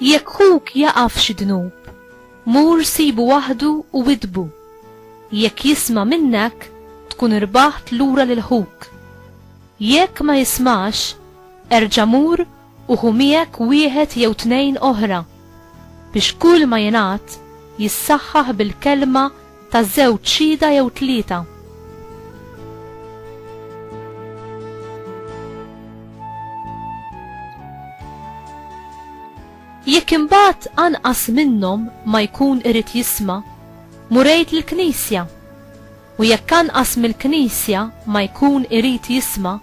Jekk ħuk jaqa' f'xi dnub, mur sibu waħdu u widdbu. Jekk jisma' minnek, tkun irbaħt lura lil ħuk. Jekk ma jismax, erġa' mur u ħu miegħek wieħed jew tnejn oħra, biex kull ma jingħad jissaħħaħ bil-kelma Ta' żewġ xhieda jew tlieta. Jekk imbagħad anqas minnhom ma jkun irid jisma', murejt lill-Knisja. U jekk anqas mill-Knisja ma jkun irid jisma',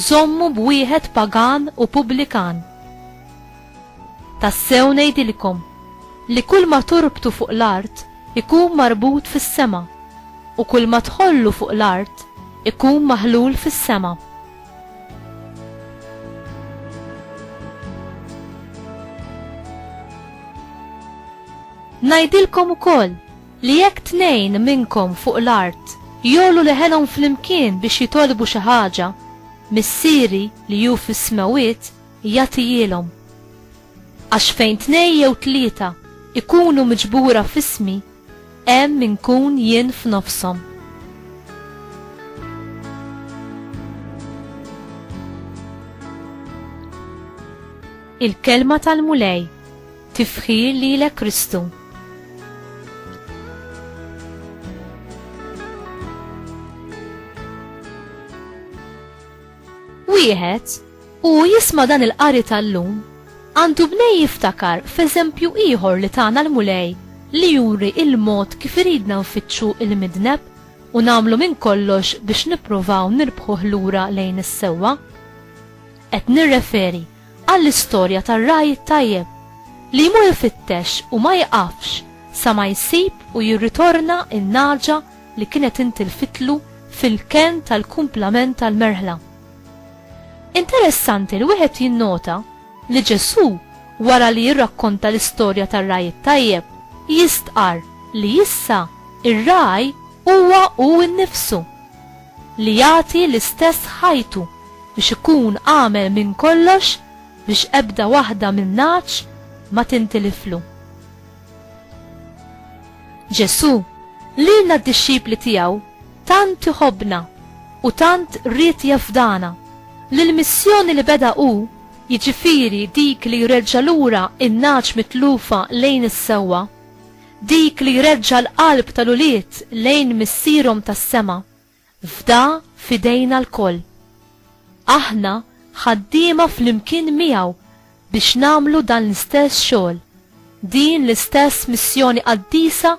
żommu b'wieħed pagan u pubblikan. Tassew ngħidilkom li kull ma torbtu fuq l-art ikun marbut fis-sema, u kull ma tħollu fuq l-art ikun maħlul fis-sema. Ngħidilkom ukoll li jekk tnejn minnkom fuq l-art jogħlu leħenhom flimkien biex jitolbu xi ħaġa, Missieri li hu fis-smewwiet jagħtihielhom. Għax fejn tnejn jew tlieta ikunu miġbura f'ismi, hemm inkun jien f'nofshom. Il-kelma tal-Mulej tifħir lilek Kristu. Wieħed, u jisma' dan il-qari tal-lum, għandu bnej jiftakar f'eżempju ieħor li tana l-Mulej li juri l-mod kif iridna nfittxu l-midneb u nagħmlu minn kollox biex nippruvaw nirbħuh lura lejn is-sewwa. Qed nirreferi għall-istorja tar-ragħaj it-tajjeb li jmur ifittex u ma jieqafx sa ma jsib u jirritorna n-nagħġa li kienet intilfitlu fil-kenn tal-kumplament tal-merħla. Interessanti li wieħed jinnota li Ġesù, wara li jirrakkonta l-istorja tar-ragħaj it-tajjeb, jistqarr li issa r-ragħaj huwa hu nnifsu, li jagħti l-istess ħajtu biex ikun għamel minn kollox biex ebda waħda min-ngħaġ ma tintiliflu. Ġesù, lilna d-dixxipli tiegħu, tant iħobbna u tant ried jafdana li l-missjoni li beda hu, jiġifieri dik li jreġġa' lura n-nagħaġ mitlufa lejn is-sewwa, dik li jreġġa' l-qalb tal-ulied lejn Missierhom tas-sema, Fda f'idejna lkoll. Aħna ħaddiema flimkien miegħu biex nagħmlu dan l-istess xogħol, din l-istess missjoni qaddisa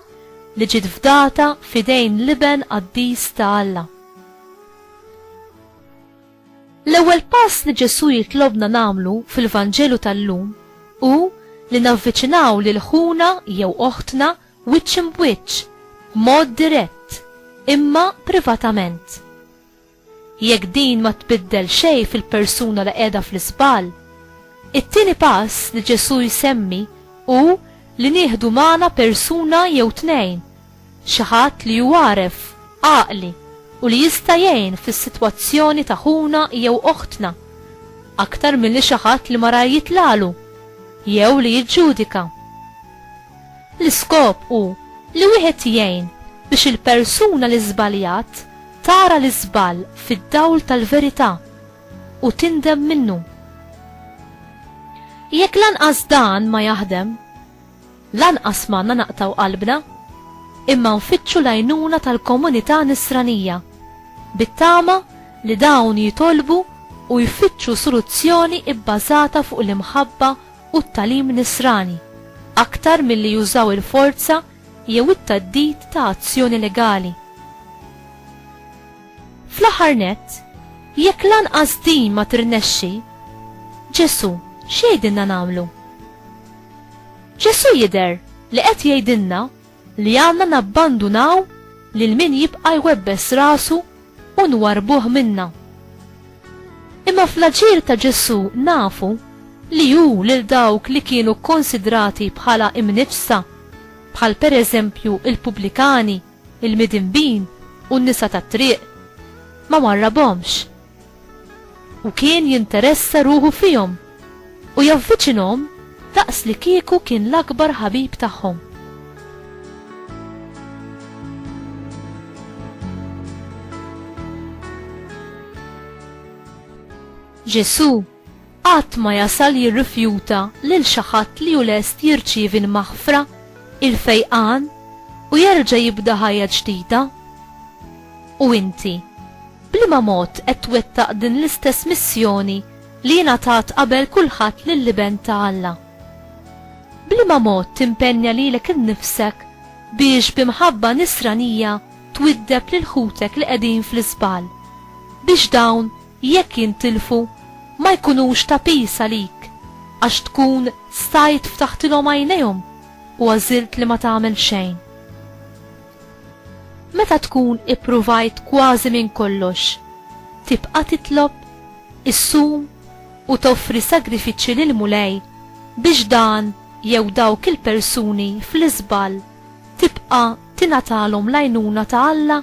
li ġiet fdata f'idejn l-Iben qaddis ta' Alla. L-ewwel pass li Ġesù jitlobna nagħmlu fil-Vanġelu tal-lum hu li navviċinaw lil ħuna jew oħtna wiċċ imb'wiċċ, b'mod dirett, imma privatament. Jekk din ma tbiddel xejn fil-persuna li qiegħda fl-iżball, it-tieni pass li Ġesù jsemmi hu li nieħdu magħna persuna jew tnejn, xi ħadd li hu għaref, għaqli u li jista' jgħin fis-sitwazzjoni ta' ħuna jew oħtna, aktar milli xi ħadd li marar jitlagħlu jew li jiġġudika. L-iskop hu li wieħed jgħin biex il-persuna li żbaljat tara l-iżball fid-dawl tal-verità u tindem minnu. Jekk lanqas dan ma jaħdem, lanqas m'għandna naqtgħu qalbna, imma nfittxu l-għajnuna tal-komunità Nisranija, bit-tama li dawn jitolbu u jfittxu soluzzjoni bbażata fuq l-imħabba u t-tagħlim Nisrani, aktar milli jużaw il-forza jew it-theddid ta' azzjoni legali. Fl-aħħar nett, jekk lanqas din ma tirnexxi, Ġesù x'jgħidilna nagħmlu? Ġesù jidher li qed jgħidilna li għandna nabbandunaw lil min jibqa' jwebbes rasu u nwarrbuh minna. Imma fl-aġir ta' Ġesù nafu li hu lil dawk li kienu kkonsidrati bħala imniġġsa, bħal pereżempju l-pubblikani, il-midinbin u n-nisa tat-triq, ma warrabhomx. u kien jinteressa ruħu fihom u javviċinhom daqs li kieku kien l-akbar ħabib tagħhom. Ġesù qatt ma jasal jirrifjuta lil xi ħadd li hu lest jirċievi l-maħfra, il-fejqan, u jerġa' jibda ħajja ġdida. U inti, b'liema mod qed twettaq din l-istess missjoni li ingħatat qabel kulħadd lill-Iben ta' Alla? B'liema mod timpenja lilek innifsek biex bi mħabba nisranija twiddeb lil ħutek li qegħdin fl-iżball, biex dawn jekk jintilfu, ma jkunux ta' piż għalik, għax tkun stajt ftaħtilhom għajnejhom u għażilt li ma tagħmel xejn. Meta tkun ippruvajt kważi minn kollox, tibqa' titlob, issum u toffri sagrifiċċji lill-Mulej biex dan jew dawk il-persuni fl-iżball tibqa' tingħatalhom l-għajnuna ta' Alla?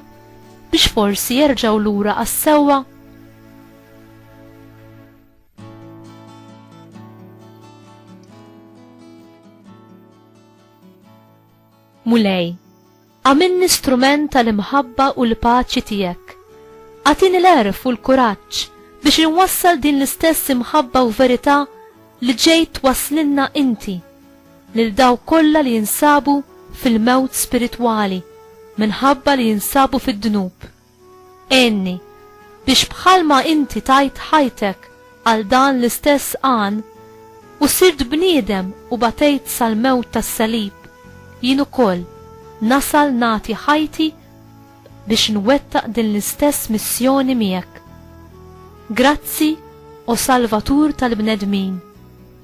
biex forsi jerġgħu lura għas-sewwa? Mulej, għamilni strument tal-imħabba u l-paċi tiegħek. Għatini l-erf u l-kuraġġ biex inwassal din l-istess imħabba u verità li ġejt waslinna inti. lil dawk kollha li jinsabu fil-mewt spiritwali minħabba li jinsabu fid-dnub. Għinni biex bħalma inti tajt ħajtek għal dan l-istess għan u sirt bniedem u batejt sal-mewt tas-salib, jien ukoll nasal nagħti ħajti biex nwettaq din l-istess missjoni miegħek. Grazzi, o Salvatur tal-bnedmin.